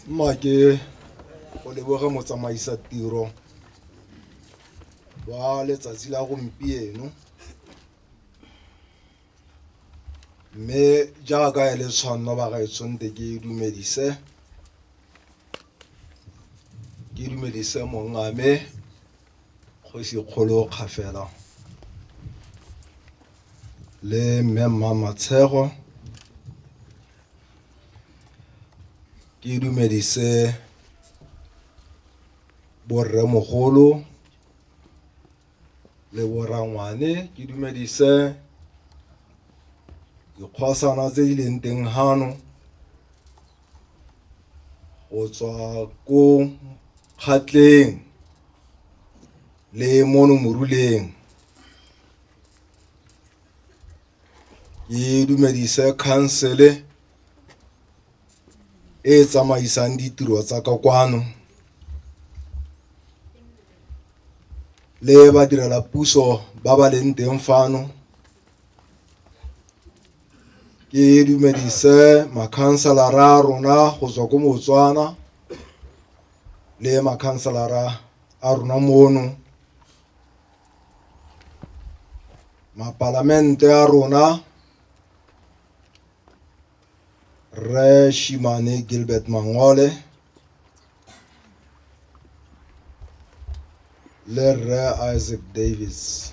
Mmake go leboga motsamaisa tiro wa letsatsi la gompieno mme jaaka e le tshwanno ba gaetshonte ke dumedise ke dumedise mongame kgosi kgolo kgafela le mme mma matshego Ke dumedise bo rremogolo le bo rangwane, ke dumedise dikgosana tse di leng teng fano go tswa ko kgatleng le mono moruleng. e dumedise khansele e e tsamaisang ditiro tsa ka kwano le badirela puso ba ba leng teng fano ke dumedise makhanselara a rona go tswa ko motswana le makhanselara a rona mono Mapalamente a rona, Rre Shimane Gilbert Mangole le Rre Isaac Davis.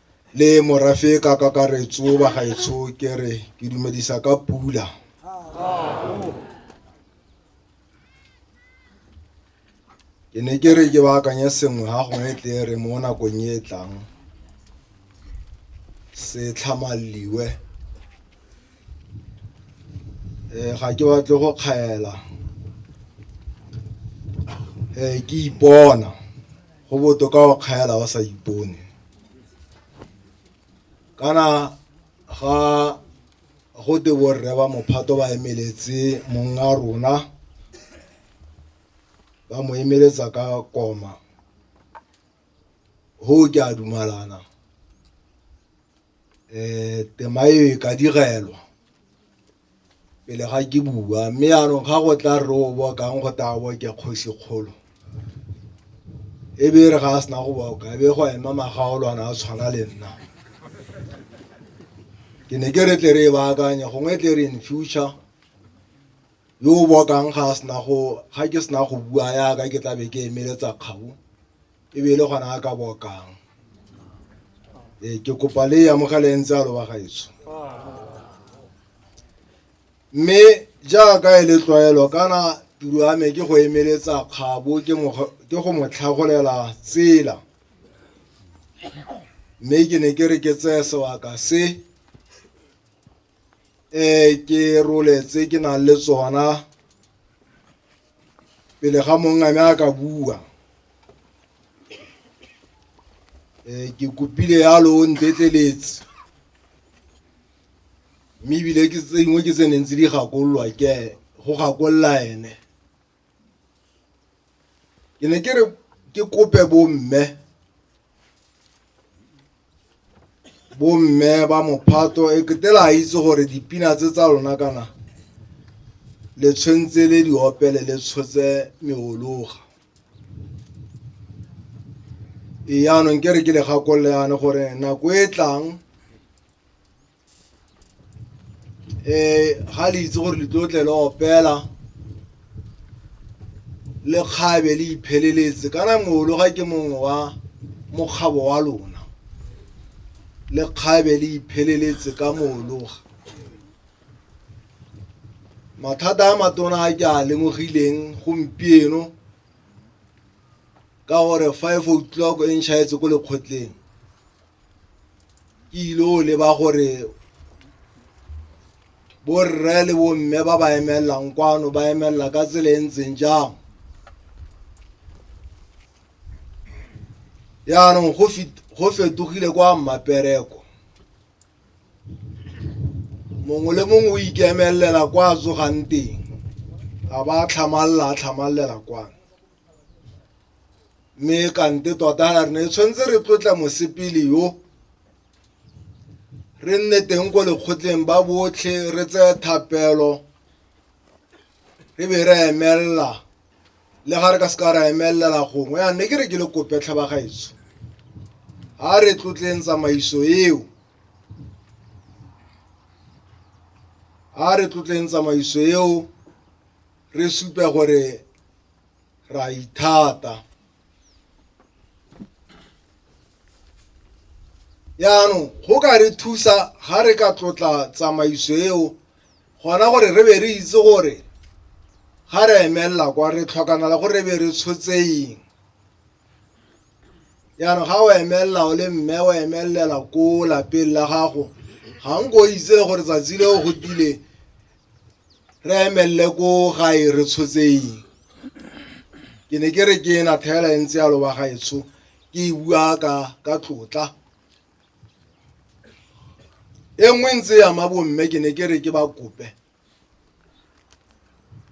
le morafe ka kakaretso ba gaetsho ke re ke dumedisa ka pula ke ne ke re ke baakanye sengwe ga gongwe tle re mo nakong e e tlang se tlhamalliwe um ga ke batle go kgaela um ke ipona go botoka go kgaela o sa ipone kana ga go te borre ba mophato ba emeletse monga rona ba mo emeletsa ka koma go ke a dumalana um tema eo e ka direlwa pele ga ke bua mme yanong ga go tla rre o bokang go tla bo ke kgosi kgolo e be re ga a sena go boka e be go ema magaolwana a tshwana le nna ke ne ke re tle re e baakanye gongwe tle re in future yo o bokang ga a sena go ga ke sena go bua yaka ke tlabe ke emeletsa kgabo e be e le gona a ka bokang ee ke kopa le amogele e ntse a loba gaetsho mme jaaka e le tlwaelo kana tiro ya me ke go emeletsa kgabo ke go mo tlhagolela tsela mme ke ne ke re ke tseye sebaka se um ke roletse ke nang le tsona pele ga mongwe ame a ka bua um ke kopile yalo o ntetleletse mme ebile ke tse dingwe ke tse neng tse di gakololwa ke go gakolola ene ke ne ke re ke kope bomme bomme ba mophato e kete la itse gore dipina tse tsa lona kana le tshwentse le di opele le tshotse meologa e yaanong ke re ke le gakolole yane gore nako e tlang um ga le itse gore le tlo tle le opela le kgabe le ipheleletse kana ngolo ga ke mongwe wa mokgabo wa lona le kgabe le ipheleletse ka moologa mathata a matona a ke a lemogileng gompieno ka gore five o'clock e nšhaetse ko lekgotleng ke ile o leba gore borre le bomme ba ba emelelang kwano ba emelela ka tsela e ntseng jang yaanong go fit- go fetogile kwa mmapereko mongwe le mongwe o ikemelelela kwa a tsogang teng ga ba tlhamalala a tlhamalala kwano mme kante tota re ne tshwanetse re tlotla mosepele yo re nne teng ko lekgotleng ba botlhe re tseye thapelo re be re emelela le ga re ka se ka ra emelela gongwe ya ne ke re ke le kope tlhabagaetso ga re tlotleng tsamaiso eo ga re tlotleng tsamaiso eo re supe gore ra ithata yaanong go ka re thusa ga re ka tlotla tsamaiso eo gona gore re be re itse gore ga re emelela kwa re tlhokanala gore re be re tshotseng yaanong ga o emelela o le mme o emelela ko lapeng la gago ga nko o itse le gore tsatsi le o go tile re emelele ko gae re tshotseng ke ne ke re ke ena thela e ntse yalo ba gaetsho ke e bua ka ka tlotla e nngwe ntse ya ma bomme ke ne ke re ke ba kope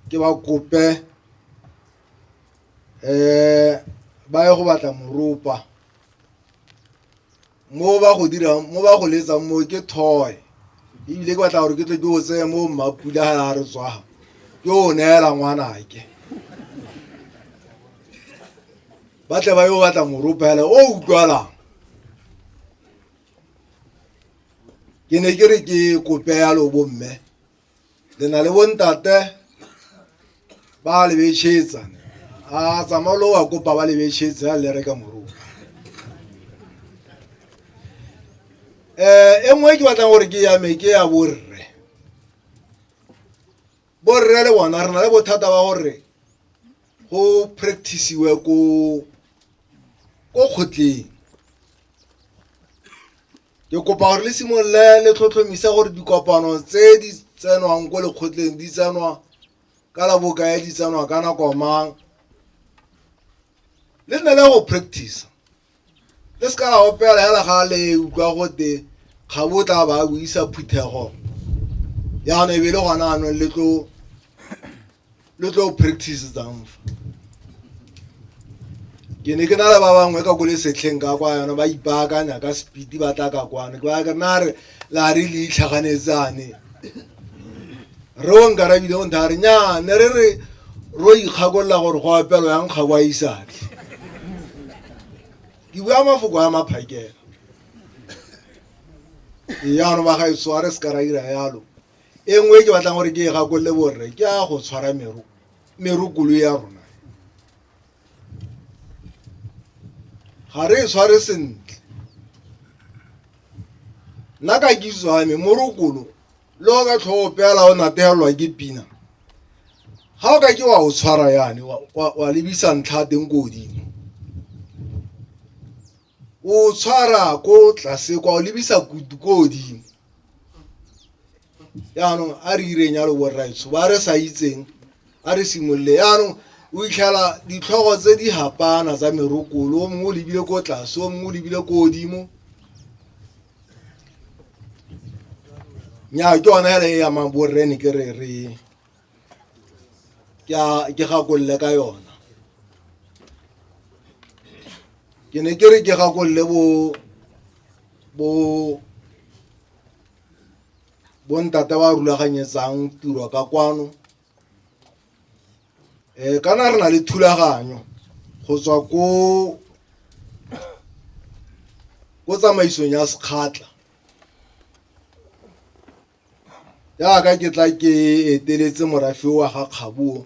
ke ba kope um ba ye go batla moropa mo ba go dirang mo ba go letsang mo ke thoe ebile ke batla gore ke tle ke o tseye mo mmapula ga la re tswaga ke o neela ngwanake ba tle ba yo batla moropele o utlwalang ke ne ke re ke kope yalo bomme le na le bontate ba le betshetsa a tsamao lo wa kopa ba le betshetsa ya le reka moruo um eh, e nngwe ke batlang gore ke yame ke ya borre borre le bona re na le bothata ba gore go practiceiwe ko kgotleng Ke kopa gore le simolole le tlhotlhomisa gore dikopano tse di tsenwang ko lekgotleng di tsenwa ka la bokae di tsenwa ka nako mang le nne le go practice le se ka la opela hela ga le utlwa gote ga bo tla ba buisa phuthego yana e be le gona anong le tlo lo tlo o practice tsang fa ke ne ke na le ba bangwe ka ko le setlheng ka kwa yona ba ipaakanya ka speed ba tla ka kwana ke ba ke na re la re le itlhaganetsane re o nkarabile o ntha re nya ne re re ro ikgakolola gore go apelo yang ga kwa isatlhe ke bua mafoko a maphakela eano ba ga e sware se ka ra ira yalo e nngwe e ke batlang gore ke e gakolole borre ke a go tshwara meru meru kolo ya rona ga re e tshware sentle nna ka kitso ya me morokolo le o ka tlhogo peela o nategelelwa ke pina ga o ka ke wa o tshwara yane wa lebisa ntlha teng ko godimo o tshwara ko tlase kwa o lebisa kutu ko godimo yaanong a re ireng ya loborraitso ba re sa itseng a re simolole yaanong o itlhela ditlhogo tse di hapana tsa merokolo o mongwe o lebile ko tlase o mongwe o lebile ko godimo nya ke yone fela e yamang borrene ke re re ke a ke gakolole ka yona ke ne ke re ke gakolole bo bo bo ntate ba rulaganyetsang tiro ka kwano um kana re na le thulaganyo go tswa ko ko tsamaisong ya sekgatla Jaaka ke tla ke eteletse morafe wa ga kgabo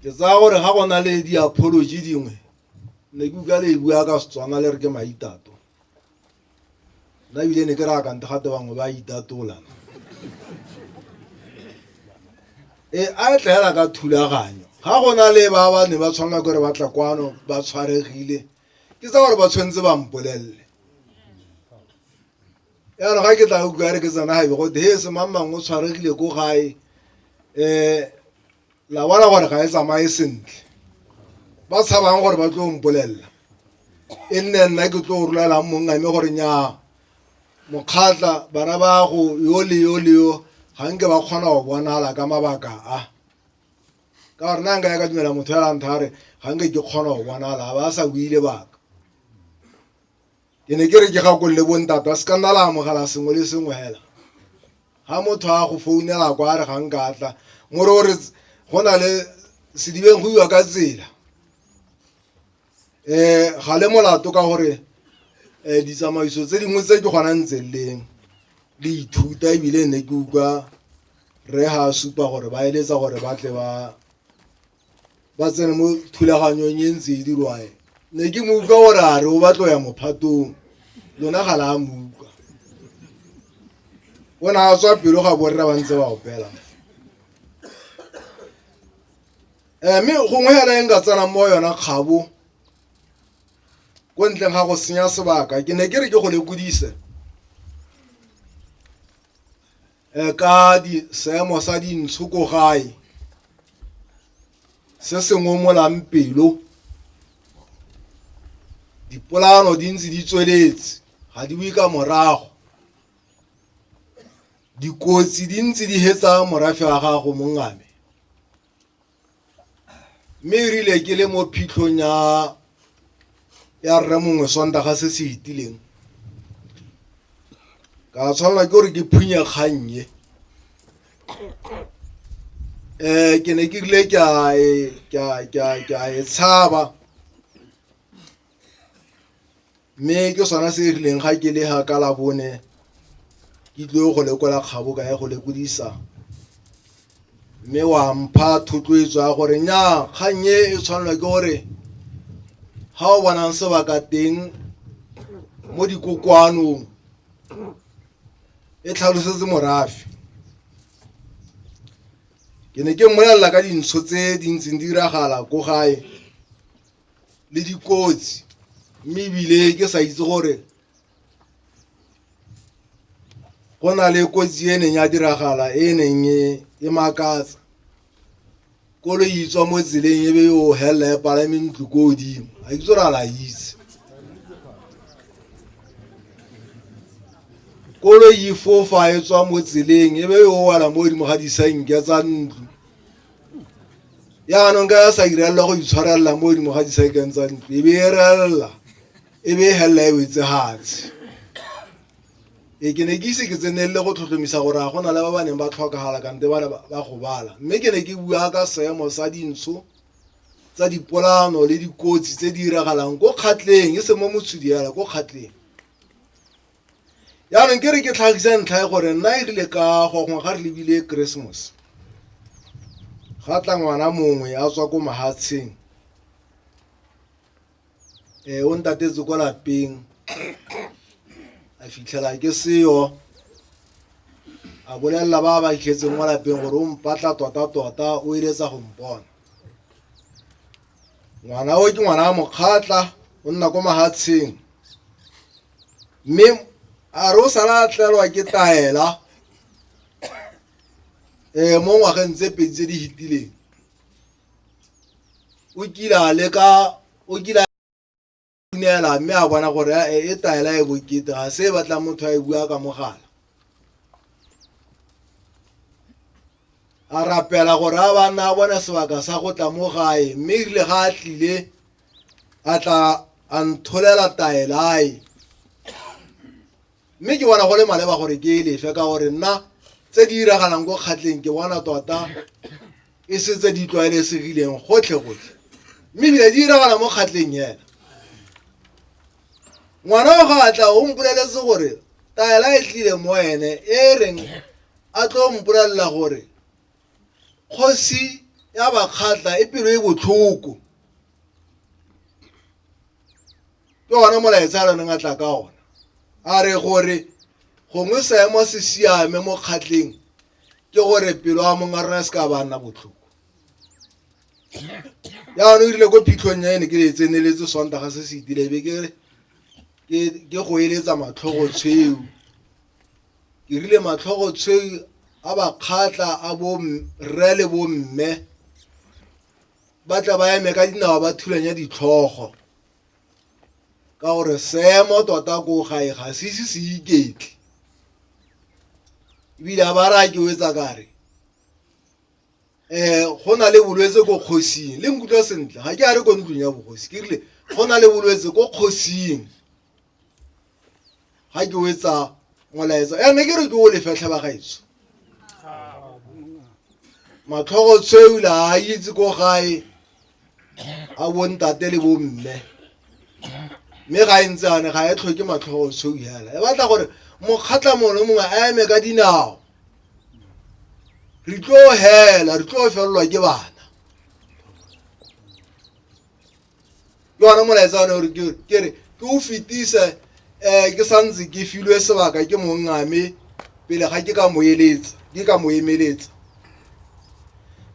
ke tsaya gore ga go na le di-apology dingwe ne ke utlwa le e bua ka setswana le re ke maitato nna ebile ne ke re akante gate bangwe ba itatola e a e tlaela ka thulaganyo ga go na le ba ba ne ba tshwanela kore ba tla kwano ba tshwaregile ke tsa gore ba tshwanetse ba mpolelele yana ga ke tla utlwa re ke tsena gabe gote he se mang mangwe o tshwaregile ko gae um la bona gore ga e tsamaye sentle ba tshabang gore ba tlo mpolelela e nne nna ke tlo rolelang mongame gore nyaa mokgatla bana ba go yo le yo le yo ga nke ba kgona go bonala ka mabaka a ka gore na nka ya ka dumela motho ya lantha a re ga nke ke kgona go bonala a ba a sa buile baka ke ne ke re ke gakolole bontata se ka nna la amogela sengwe le sengwe fela ga motho a go founela kwa a re ga nka tla more o re go na le sedibeng go iwa ka tsela ga le molato ka gore um ditsamaiso tse dingwe tse ke gona ntse leng le ithuta ebile ne ke utlwa re ga supa gore ba eletsa gore ba tle ba ba tsene mo thulaganyong e ntse e dirwae ne ke mo utlwa gore a re o batlo ya mophatong lona ga la mo utlwa o ne a tswa pelo ga borre ba ntse ba opela um mme gongwe hela e nka tsenang mo yona kgabo ko ntleng ga go senya sebaka ke ne ke re ke go lekodise um ka seemo sa dintsho ko gae se se ngomolang pelo dipolano di ntse di tsweletse ga di bue ka morago dikotsi di ntse di hetsa morafe wa gago mongame mme e rile ke le mo phitlhong ya ya rre mongwe sondaga se se itileng ka tshwanela ke gore ke phunye kgannye um ke ne ke rile ke a e tshaba mme ke sona se e rileng ga ke le ga ka labone ke tlile go lekola kgabo ka ya go lekodisa mme wa mpha thotloetso ya gore nyaa kgang e e tshwanelwa ke gore ga o bonang sebaka teng mo dikokoanong e tlhalosetse morafe ke ne ke mmolelela ka dintsho tse di ntseng di diragala ko gae le dikotsi mme ebile ke sa itse gore go na le kotsi e neng ya diragala e neng e, e makatsa kolo e itswa mo tseleng e be yo helela e palame ntlo ko godimo a ke tsore a la itse kolo e fofa e tswa mo tseleng e be yo wela mo godimo ga disenke tsa ntlo yaanong ka sa irelela go itshwarelela mo godimo ga disekeng tsa ntlo e be e relela e be e felela e wetse gatshe e ke ne ke ise ke tsenelele go tlhotlhomisa gore ga gona le ba ba neng ba tlhokagala kante ba ne ba gobala mme ke ne ke bua ka seemo sa dintsho tsa dipolano le dikotsi tse di diragalang ko kgatleng e se mo motshodi yala ko kgatleng yaanong ke re ke tlhagisa ntlha e gore nna e rile ka gongwe ga re lebile christmas ga tla ngwana mongwe a tswa ko mahatsheng um o ntatetse ko lapeng a fitlhela ke seyo a bolelela ba ba itlhetseng mo lapeng gore o mpatla tota-tota o eletsa go mpona ngwana o ke ngwana wa mokgatla o nna ko mahatsheng mme a re o sala tlelwa ke taela um mo ngwageng tse pedi tse di fetileng o kile a leka o kile dumela mme a bona gore e taela e bokete ga se e batla motho a e bua ka mogala a rapela gore a ba nna a bona sebaka sa go tla mo gae mme rile ga a tlile a tla a ntsholela taelae mme ke bona go le maleba gore ke e lefe ka gore nna tse di diragalang ko kgatleng ke bona tota e se tse di tlwaelesegileng gotlhe gotlhe mme ebile di diragala mo kgatleng hela ngwana wa ga a tla o mpoleletse gore taela e tlile mo ene e reng a tlo mpolelela gore kgosi ya bakgatla e pelo e botlhoko ke ona molaetsa a lone ngatla ka ona a re gore gongwe seemo se siame mo kgatleng ke gore pelo a mong a rona se ka ba nna botlhoko jaanong o rile ko phitlhong ya ene ke le tseneletse sontaga se se itilebe ke ke go eletsa matlhogo tshweo ke rile matlhogo tshweu a bakgatla a bo rre le bo mme ba tla ba eme ka dinao ba thulanya ditlhogo ka gore seemo tota ko gae ga se ise se iketle ebile a ba raya ke wetsa kare um go na le bolwetse ko kgosing le nkutlwa sentle ga ke a re ko ntlong ya bogosi ke rile go na le bolwetse ko kgosing ga ke o etsa molaetsa ya ne ke re ke o lefetlhe ba gaetso matlhogo tshweula a itse ko gae a bontate le bomme mme ga e ntse ane ga e tlhoke matlhogo tshweu hela e batla gore mokgatla mongwe le mongwe a eme ka dinao re tlo hela re tlo felelwa ke bana ke ona molaetsa one gore ke re ke o fetise um ke santse ke filwe sebaka ke mongame pele ga ke ka mo eletsa ke ka mo emeletsa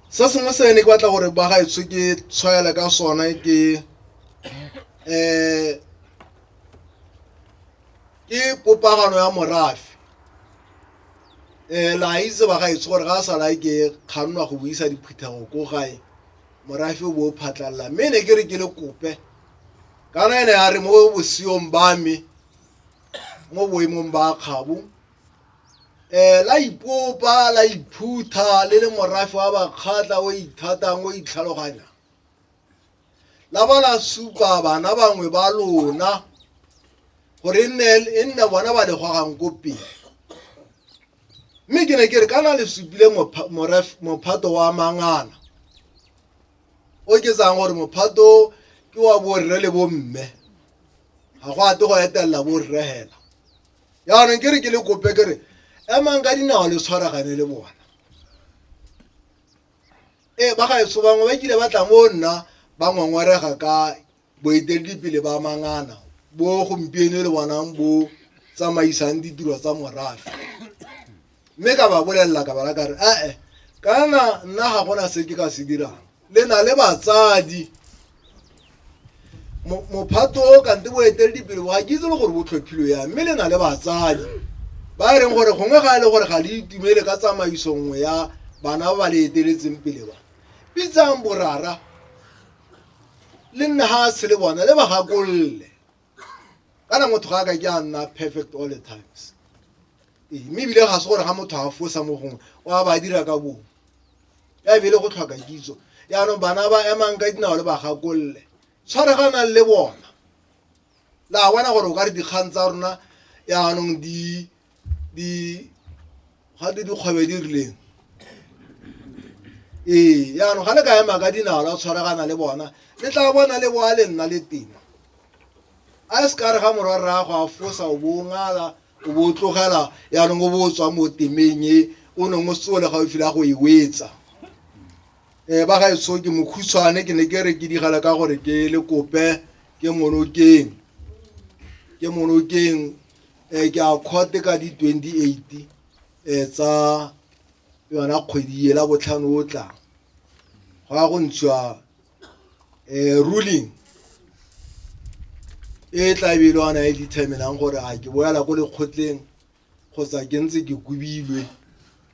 se sengwe se ne ke batla gore ba gaetsho ke tshwaela ka sona ke um ke popagano ya morafe um la itse ba gaetsho gore ga a sala ke kgannwa go buisa diphuthego ko gae morafe o bo o phatlalla mme ne ke re ke le kope kana ene a re mo bosiong ba me mo boemong ba kgabo um eh, la ipopa la iphutha le le morafe wa bakgatla o ithatang o itlhaloganya la ba la supa bana bangwe ba lona gore e nne e nne bona ba le gogang ko pele mme ke ne ke re kana le supile mophato wa mangana o ke tsang gore mophato ke wa borre le bomme ga go ate go etelela borre hela jaanong ke re ke le kope ke re emang ka dinao le tshwaragane le bona ee ba gaetso bangwe ba kile ba tla mo nna ba ngongorega ka Boeteledipele ba mangana bo gompieno le bonang bo tsamaisang ditiro tsa morafe mme ka ba bolelela ka bala kare ee kana nna ga gona se ke ka se dirang le na le batsadi mophato o kante boeteledipele bo ga ke itse le gore bo tlhophilo ya mme le na le batsadi ba e leng gore gongwe ga e le gore ga le itumele ka tsamaiso nngwe ya bana ba ba le eteletseng pele ba bitsang borara le nne ga se le bona le ba gakolole kana motho ga a ka ke a nna perfect all the times Ee, mme ebile ga se gore ga motho a fosa mo gongwe o a ba dira ka bongwe ya ebile go tlhoka kitso yaanong bana ba emang ka dinao le ba gakolole tshware ga nang le bona la bona gore o ka re dikgang tsa rona yaanong di gate dikgwebe di rileng ee yaanong ga le ka ema ka dinao la tshwaragana le bona le tla bona le boa le nna le teng a se ka re ga morwa rrago a fosa o bo o ngala o bo o tlogela yaanong o bo o tswa mo temeng e o neng o seo le gaufi la go e wetsa um ba ga eso ke mokhutshwane ke ne ke re ke digela ka gore ke le kope ke monokeng ke monokeng um ke a kgote ka di twenty eight um tsa yona kgwedi e la botlhano o tlang go ya go ntshiwa um ruling e tla be e le ona e determinang gore a ke boela ko lekgotleng kgotsa ke ntse ke kobilwe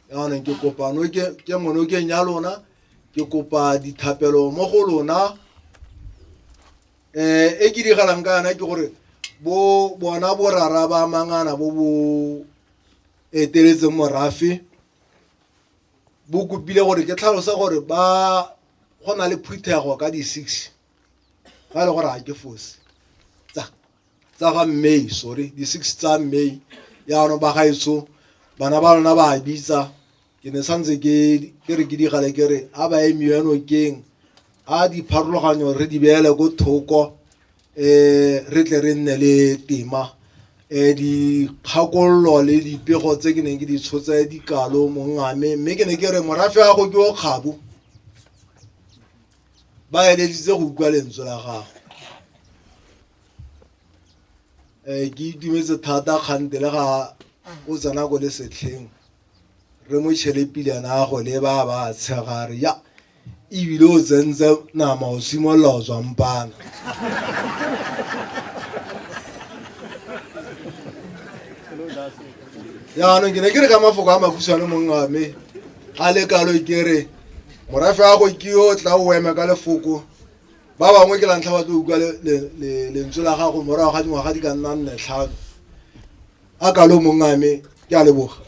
yaanong ke kopano ke monokeng ya lona ke kopa dithapelo mo go lona um e ke digalang ka yana ke gore bo bona borara ba mangana bo bo eteletseng morafe bo kopile gore ke tlhalosa gore ba go na le phuthego ka di-six ga e le gore ga ke fosi tsa tsa ga may sorry di-six tsa may yaanong ba gaetso bana ba lona ba bitsa ke ne santse ke re ke digale ke re a ba emiwe nokeng a dipharologanyo re di beele ko thoko um re tle re nne le tema um dikgakololo le dipego tse ke neng ke di tshotse dikalo mongame mme ke ne ke re morafe ya go ke o kgabo ba eleditse go utlwa lentswe la gago um ke itumetse thata kgante le ga o tsena ko le setlheng re mo tšhele pilana ya go le ba ba tshegare ya ebile o tsentse nama o simolola o tswampana jaanong ke ne ke re ka mafoko a makhutshwane mong wa me ga le kalo ke re morafe wa go ke o tla o eme ka lefoko ba bangwe ke lantlha ba tlo utlwa lentswe la gago morago ga dingwaga di ka nnang netlhano a kalo mongame ke a leboga